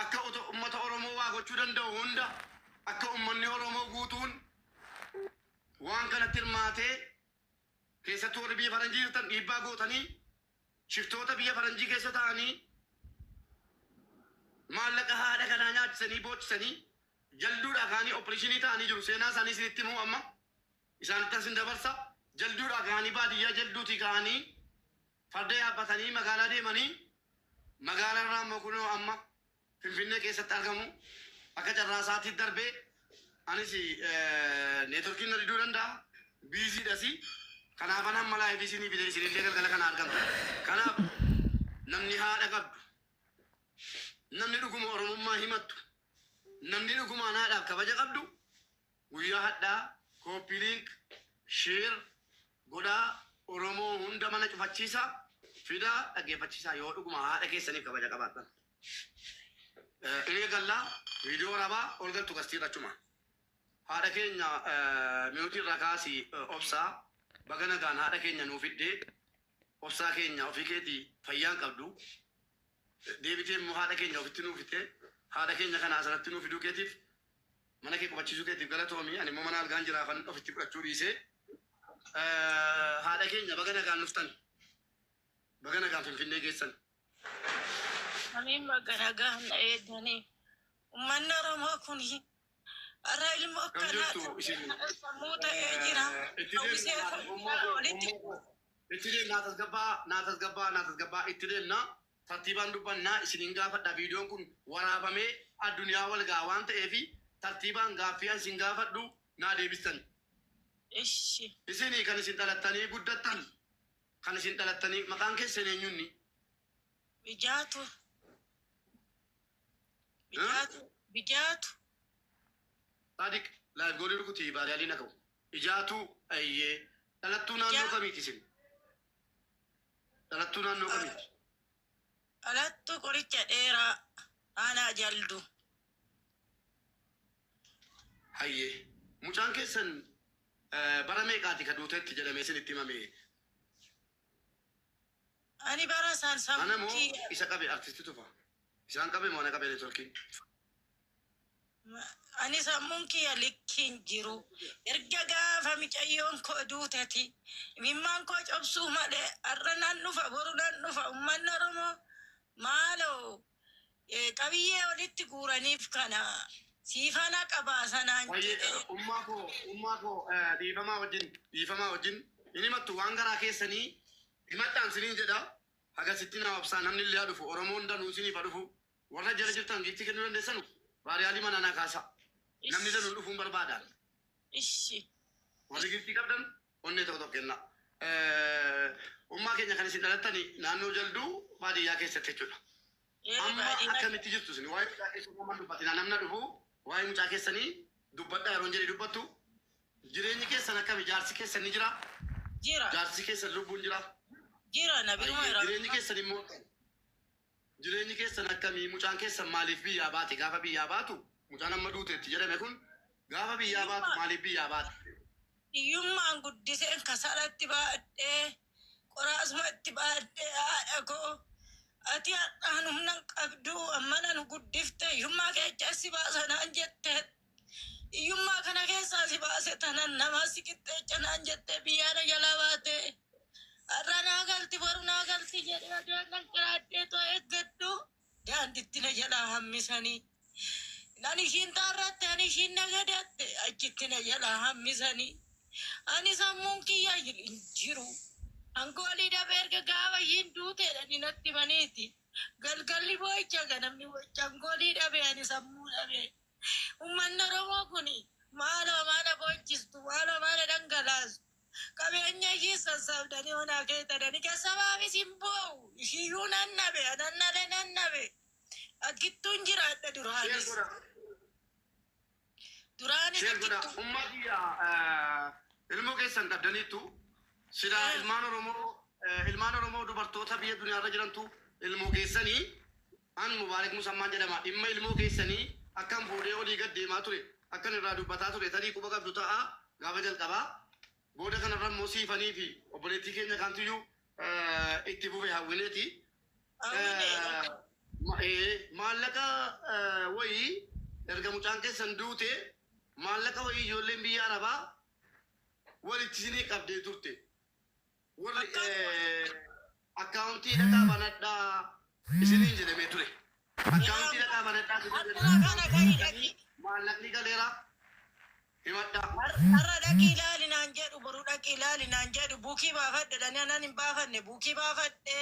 akka ummata Oromoo waa gochuu danda'u hunda akka ummanni Oromoo guutuun waan kanatti hirmaatee keessattuu warri biyya faranjii jirtan dhiibbaa gootanii shiftoota biyya faranjii keessa ta'anii maallaqa haadha kanaa nyaachisanii boochisanii jalduudhaa kaanii opereeshinii ta'anii jiru. Seenaa isaanii isinitti himuu amma isaanitti asin dabarsa. Jalduudhaa kaanii baadiyyaa jalduutii kaanii Farda yaabbatanii magaalaa deemanii magaalaan irraa immoo kunoo amma Finfinnee keessatti argamu. Akka carraa sa'aatii darbee anis networkiin na diduu danda'a. Busy dhasi. Kanaafan amma live isinii fide isinillee galgala kana argamtu. Kanaaf namni haadha qabdu, namni dhuguma Oromummaa himattu, namni dhugumaan haadhaaf kabaja qabdu Guyyaa hadhaa copy link share godhaa oromoo hunda mana cufachiisa fidaa dhaggeeffachiisaa yoo dhuguma haadha keessaniif kabaja qabaattan in eegallaa viidiyoo rabaa ol galtu gastiirra achuma haadha keenya miyuutii irraa kaasi obsaa baga nagaan haadha keenya nuu fiddee obsaa keenya ofii keetii fayyaan qabdu Deebitee immoo haadha keenya ofitti nuu fidee haadha keenya kana asirratti nuu fiduu keetiif mana kee qubachiisuu keetiif galatoomi ani immoo mana algaan jiraafan ofitti fudhachuu dhiisee haadha keenya baga nagaan dhuftan baga nagaan finfinnee geessan. Ameen baga nagaan na eegdanii. Ummanni Oromoo kun har'a ilmoo akkanaa kana sammuu ta'ee jira. Hawwisee Itoophiyaa walitti buusa. Itti deemna haa tasgabbaa'aa naa tasgabbaa'aa naa tasgabbaa'aa itti deemna tartiibaan dubbannaa isiniin gaafadha viidiyoon kun waraabamee adduniyaa wal ga'a waan ta'eef tartiibaan gaaffii an isin gaafadhu naa deebistani. Ishi. Isin kan isin dhalattanii guddattan kan isin dhalattanii maqaan keessan eenyunni? Ijaatu. Bijaatu bijaatu. Sadiq live goolii rukuti vaariyaaliin haa ga'u. Ijaatuu ayyee dhalattuu naannoo Ijaa- kamiiti isin? Dhalattuu naannoo kamiiti? Dhalattuu qoricha dheeraa aanaa jaldu. Hayyee mucaan keessan eh, bara meeqaati ka duuteetti jedhamee isin itti himame Ani bara san sammuu Ana moo kiyya. isa qabe artisti tufa. Isaan qabe moo ana qabe networkiin. Ani sammuun kiyya likki hin jiru. Erga gaafa micayyoon koo duuteti. Imimmaan koo cobsuu malee har'a nan dhufa boru nan dhufa ummanni oromoo maaloo qabiyyee walitti guuraniif kana sii fana qabaasa naan Baay'ee jedhe. qara. Ummaa koo ummaa koo dhiifamaa wajjin dhiifamaa wajjin hin himattu waan garaa keessanii Himadhaan sinin jedha hagasittin haa obsaa namnille ha dhufu oromoon danu isinif ha dhufu warra jala jirtan giiftii kennu dandessanu baariyaalii manaa naa kaasa namni danu dhufuun barbaadaan Ishi. warri giiftii qabdan onnee tokko tokko kenna ummaa keenya kan isin dhalattani naannoo jalduu baadiyyaa keessatti jechuudha Eere amma baadiyyaa. akkamitti jirtu isin waa'ee mucaa keessanii amma dubbatina namna dhufu waa'ee mucaa keessanii Dubbadhaa yeroon jedhe dubbattu. Jireenyi keessan akkami? Jaarsi keessan ni jiraa? Jira. Jaarsi keessan lubbuun jiraa? Jira. Na biruma Ayyee. Jireenyi irraa. keessan immoo akkami? Jireenyi keessan akkami? Mucaan keessan maaliif biyyaa baate? Gaafa biyyaa baatu mucaan amma duuteetti jedhame kun gaafa biyyaa baatu maaliif biyyaa baate? Hiyyummaan guddiseen kasala itti baadhee, qoraasuma itti baadhee haadha koo ati har'aan humna hin qabdu ammana nu guddifte hiyyummaa keechaa si baasa naan jettee hiyyummaa kana keessaa si baase tanan namaa si qixxeecha naan jettee biyyaa na jalaa baate har'a naa galti boru naa galti jedhee adeeman qiraadhee too eeggadhu. Daanditti na jalaa hammisanii. Nan ishiin taarratte, ani ishiin na gadatte, achitti na jalaa hammisanii. Ani sammuun kiyya hin jiru. Ankoolii dhabee erga gaafa ishiin duuteedha ni natti himaniiti. Galgalli boo'icha ganamni boo'icha ankoolii dhabee ani sammuu dhabee. Ummanni Oromoo kuni maaloo maana boochistu, maaloo maana dhangalaastu. Qabeenya ishiis sassaabdanii onaa keetadani kassabaafis hin boo'u. Ishiiyyuu nan dhabe, anannale nan dhabe. Akkittuun jiraadha duraanis. Duraanis Sheer godhaa. akkittuu. Ummaa kiyya eh, ilmoo keessan qabdaniittu silaa Eh. ilmaan Oromoo eh, ilmaan Oromoo dubartoota biyya duniyaarra jirantu ilmoo keessanii An Mubaarik Musammaan jedhama. Dhimma ilmoo keessanii akkan fuudhee olii gad deemaa ture, akkan irraa dubbataa ture tarii quba qabdu ta'a gaafa jalqabaa. Booda kanarra immoo siifanii fi obboleettii keenya kaantuyyuu itti fufe Hawwineeti. Ee, maallaqa wayii erga mucaan keessan duute maallaqa wayii ijoolleen biyya Arabaa walitti isinii qabdee turte. Warri Account dhaqaa banadhaa isiniin jedhamee ture. Account dhaqaa banadhaa isiniin jedhamee maallaqni galeera himadhaa. Har'a dhaqii ilaali naan jedhu boru dhaqii ilaali naan jedhu buukii baafadhu jedhanii anan hin baafanne buukii baafadhe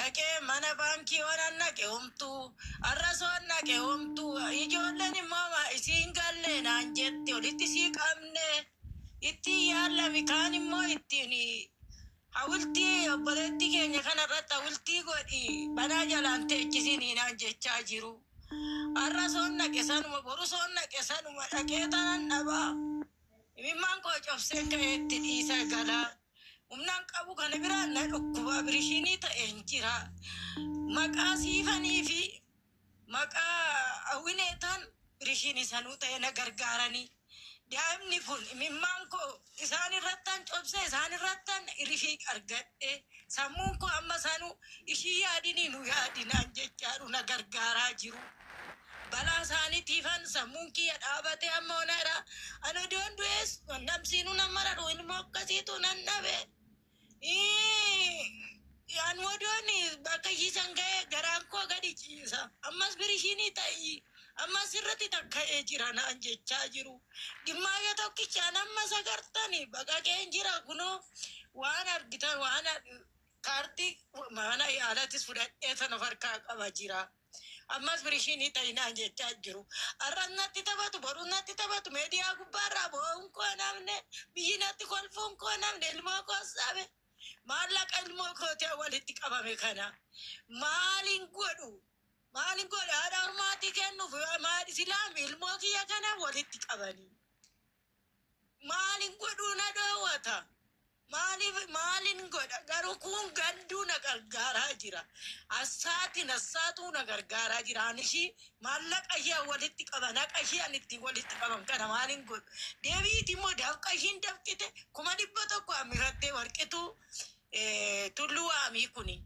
dhaqee mana baankii waanan naqe homtuu har'as waan naqe homtuu ijoolleen immoo isii hin galle naan jetti olitti isii qabne. ittiin yaallami kaan immoo ittiin hawultii obboleettii keenya kana irratti hawultii godhi banaa jalaan teechisiin naan jechaa jiru. Har'a soon dhaqe sanuma boru soon dhaqe sanuma dhaqee tanan dhaba. Imimmaan koo cobseen ka'ee itti dhiisa gala. Humnaan qabu kana biraan na dhukkuba birishiinii ta'een jira. Maqaa siifanii fi Maqaa Awinee taan birishiin isanuu ta'ee na gargaaranii daa'imni kun imimmaan koo isaan irrattan cobsee isaan irrattan irifiiq argadhee sammuun koo amma sanuu ishii yaadinii nu yaadi naan jechaadhu na gargaaraa jiruu balaa isaanitiifan sammuun kiyya dhaabatee amma ona iraa an odoon du'ees namsiinuu nan maradhu ilmoo akkasiitu nan dhabee Yaan wadooni bakka ishiisan ga'e garaan koo gadi ciisa. Ammas birishiinii ta'i. Ammas irratti takka'ee jira naan jechaa jiru. Gimmaayya tokkichaan amma sagartani baqaqeen jira kunoo waan argitan waan kaartii mana yaalattis fudhadhee tan of harkaa qaba jira. Ammas birishii ni ta'i naan jechaa jiru. Har'as natti taphatu, borus natti taphatu. Meediyaa gubbaarraa boo'uun koo namne, biyyi natti kolfuun koo namne, ilmoo koos dhabe. Maallaqa ilmoo kootii walitti qabame kana maaliin godhu? Maaliin godha? Haadha harmaatii kennuuf maal islaami ilmoo kiyya kana walitti qabanii. Maalin godhuu na dhoowwata? Maaliif maalin godha? Garuu kun gadduu na gargaaraa jira. Assaatiin assaatuu na gargaaraa jira. Ani ishii maallaqa ishee an walitti qaban haqa ishee an ittiin walitti qaban kana maalin godhu? Deebi'iti immoo dafqa ishiin dafqite kuma dhibba tokko hammirattee warqituu eh, tulluu waamii kuni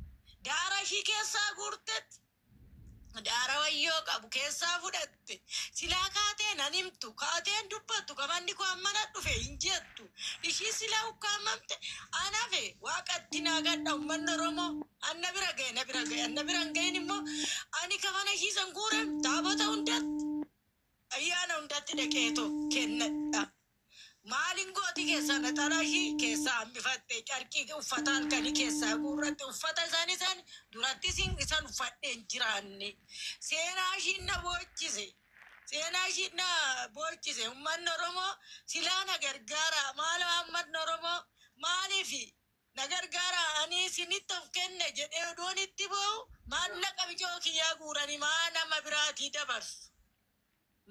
daara ishii keessaa guurtetti. Daara wayyoo qabu keessaa fudhatte. Silaa kaatee nan himtu, kaatee hin dubbattu, ka manni koo ammana dhufe hin jettu. Ishii silaa ukkaamamte, an hafe. Waaqatti naagadha ummanni Oromoo. An na bira gahe, na bira gahe. An na bira hin gahin immoo, ani ka mana ishii san guure taabota hundatti. Ayyaana hundatti dhaqeetoo kennadha. Maalin gooti keessaa naxalaa ishii keessaa hambifatte carqii uffata halkanii keessaa guurratte uffata isaanii san durattis hin isan uffadhee hin jiraanne. Seenaa ishiin na boochise. Seenaa ishiin na boochise ummanni Oromoo silaa na gargaaraa maaloo hammatni Oromoo maaliif Na gargaaraa, ani isinitti of kenne jedhee odoon itti boo'u, maallaqa bicoo kiyyaa guuranii maa nama biraatii dabarsu?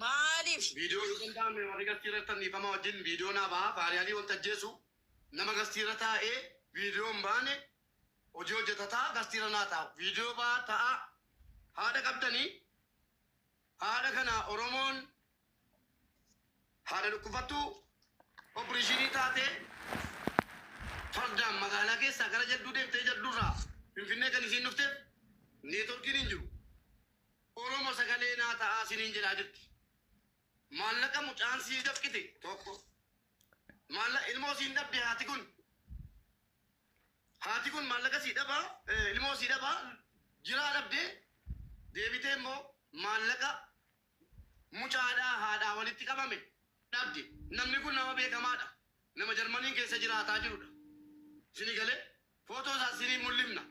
Maaliif? Viidiyoo Yoo Danda'ame Warri Gastii Irratti Tan Dhiifamaa Wajjin Viidiyoo Naa Bahaa Faariyaalii Wanta Ajjeesu Nama Gastii Irra Taa'ee Viidiyoo Hin Baane Hojii Hojjata Ta'a Gastii Irra Naa Taa'u Viidiyoo Bahaa Ta'aa Haadha Qabdanii Haadha Kana Oromoon Haadha dhukkufattuu oppirishiinii taatee fardaan magaalaa keessaa gara jadduu deemtee jadduurraa Finfinnee kan isiin dhufteef neetworkiin hin jiru. Oromo sagalee naa ta'aa siniin jedhaa jirti. Maallaqa mucaan sii dafqite tokko. Maalla ilmoo siin dhabde haati kun. Haati kun maallaqa sii dhabaa eh, ilmoo sii dhabaa jiraa dhabdee deebitee immoo maallaqa Mucaadhaa haadhaa walitti qabame dhabde. Namni kun nama beekamaadha. Nama Jarmanii keessa jiraataa jirudha. Isinii galee? Footoo isaas isiniif mul'ifna.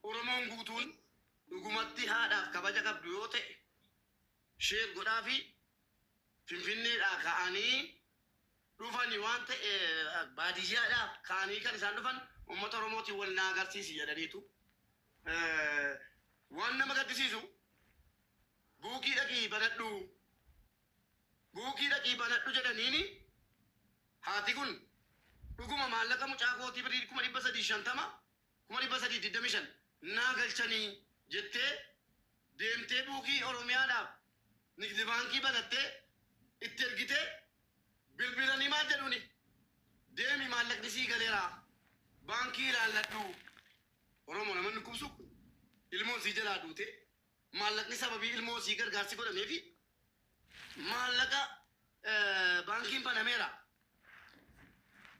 Oromoon guutuun dhugumatti haadhaaf kabaja qabdu yoo ta'e share godhaafii Finfinneedhaa ka'anii dhufani waan ta'e baadiyyaadhaa ka'anii kan isaan dhufan uummata Oromootiin wal na agarsiisi jedhaniitu. Waan nama gaddisiisu. Guugii dhaqii banadhu Guugii dhaqii banadhu jedhaniini haati kun dhuguma maallaqa mucaa kootii birrii 350,000, 325,000 naa galchanii jettee deemtee buukii Oromiyaadhaaf Nigdi Baankii banattee itti ergitee bilbilanii maal jedhuuni deemi maallaqni sii galeeraa baankii ilaalladhu Oromoo nama hin dhukkubsuu kun ilmoon sii jalaa duutee Maallaqni sababii ilmoo isii gargaarsi godhameefi maallaqa baankiin banameera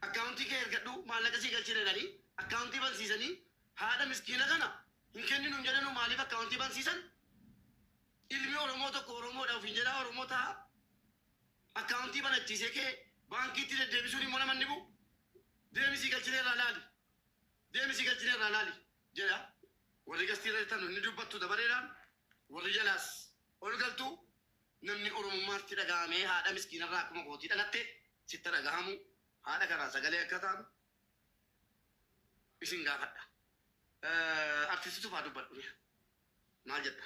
akkaawuntii kee ergadhu maallaqa sii galchina jedhanii akkaawuntii bansiisanii haadha miskiina kana hin kenninu hin jedhanuu maaliif akkaawuntii bansiisan ilmi Oromoo tokko Oromoodha ofiin jedhaa Oromoo ta'a akkaawuntii banachiisee kee baankiitti deddeebisuun immoo namanni bu'u deemisii galchina irraa laali deemisii galchina irraa laali. jedha. Warri gastii irra jirtan ni dubbattu dabareedhaan, warri jalaas ol galtu. Namni Oromummaa sitti dhaga'amee haadha miskiina irraa akkuma kootii dhalatte sitti ha dhagahamu. Haadha kanaa sagalee akka taanu isin gaafadha. Artisti Tufaa dubbadhu mee maal jedha?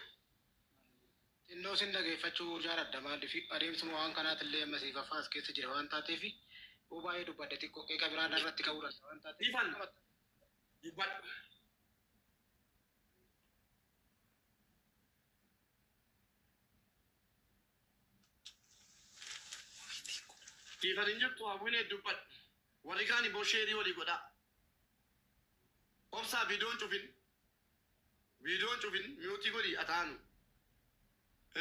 Xinnoo sin dhageeffachuu jaaladha maaliif adeemsuma waan kanaati illee amma siifaffaa as keessa jira waan taateef yoo baay'ee dubbadde xiqqoo qeeqa biraa narratti ka'uu danda'a waan taateef Ifan. Dubbadhu. Dhiifan hin jirtu hawwinee dubbadhu. Warri kaan immoo sheerii walii godhaa. Obsaa viidiyoon cufin. Viidiyoon cufin mi'ootii godhi ataanu.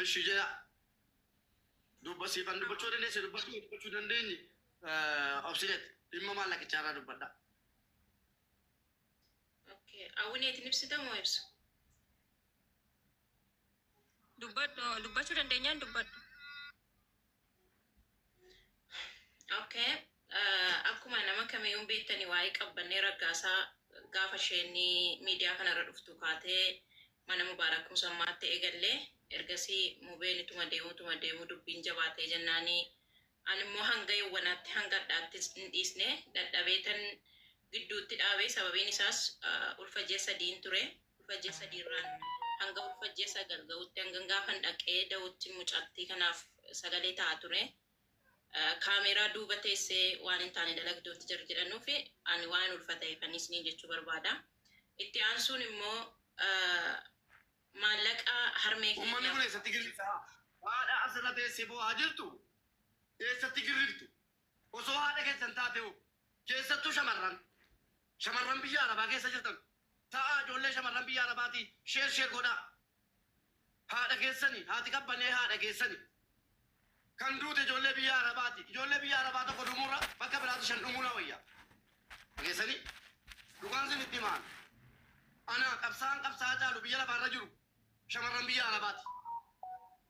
Eshi jedha. Dubba siifan dubbachuu dandeesse dubbachuu dubbachuu dandeenye obsineet dhimma maallaqichaa irraa dubbadha. Okay. Awwineetiin ibsita moo ibsu? Dubbadhu dubbachuu dandeenyaan dubbadhu. Okay. Uh, akkuma nama kamiyyuu beektanii waa'ee qabbannee raggaasaa gaafa isheen miidiyaa kanarra dhuftu kaatee mana mubaarak musammaatti eegallee ergasii mubeen ituma deemuu ituma deemuu dubbiin jabaatee jennaanii Ani immoo hanga yowwanaatti, hanga ardhaattis hin dhiisne, dadhabeetan gidduutti dhaabe, sababiin isaas, ulfa ji'a sadiin ture, ulfa ji'a sadii irraan hanga ulfa ji'a sagal ga'utti, hangan gaafan dhaqee da'utti mucattii kanaaf sagalee ta'aa ture. Kaameeraa duuba teessee waan hin taane dalagduutti jarri jedhanuufi ani waa'een ulfa ta'eefanii isiniin jechuu barbaada. Itti aansuun immoo, maallaqaa harmee keenyaa. Ummanni kun eessatti girrifta? Haadha as irra teessee boo'aa jirtu eessatti girriftu? Osoo haadha keessan taatee hoo? Keessattuu shamarran shamarran biyya arabaa keessa jirtan ta'aa ijoollee shamarran biyya arabaatii share share godhaa. Haadha keessani haati qabbanee haadha keessani. Kan duute ijoollee biyya Arabaati. Ijoollee biyya Arabaa tokko dhumuurra bakka biraatti shan dhumuun wayya. Dhageessanii? Dhugaan sin itti himaan. Ana qabsaan qabsaa caalu biyya lafaarra jiru shamarran biyya Arabaati.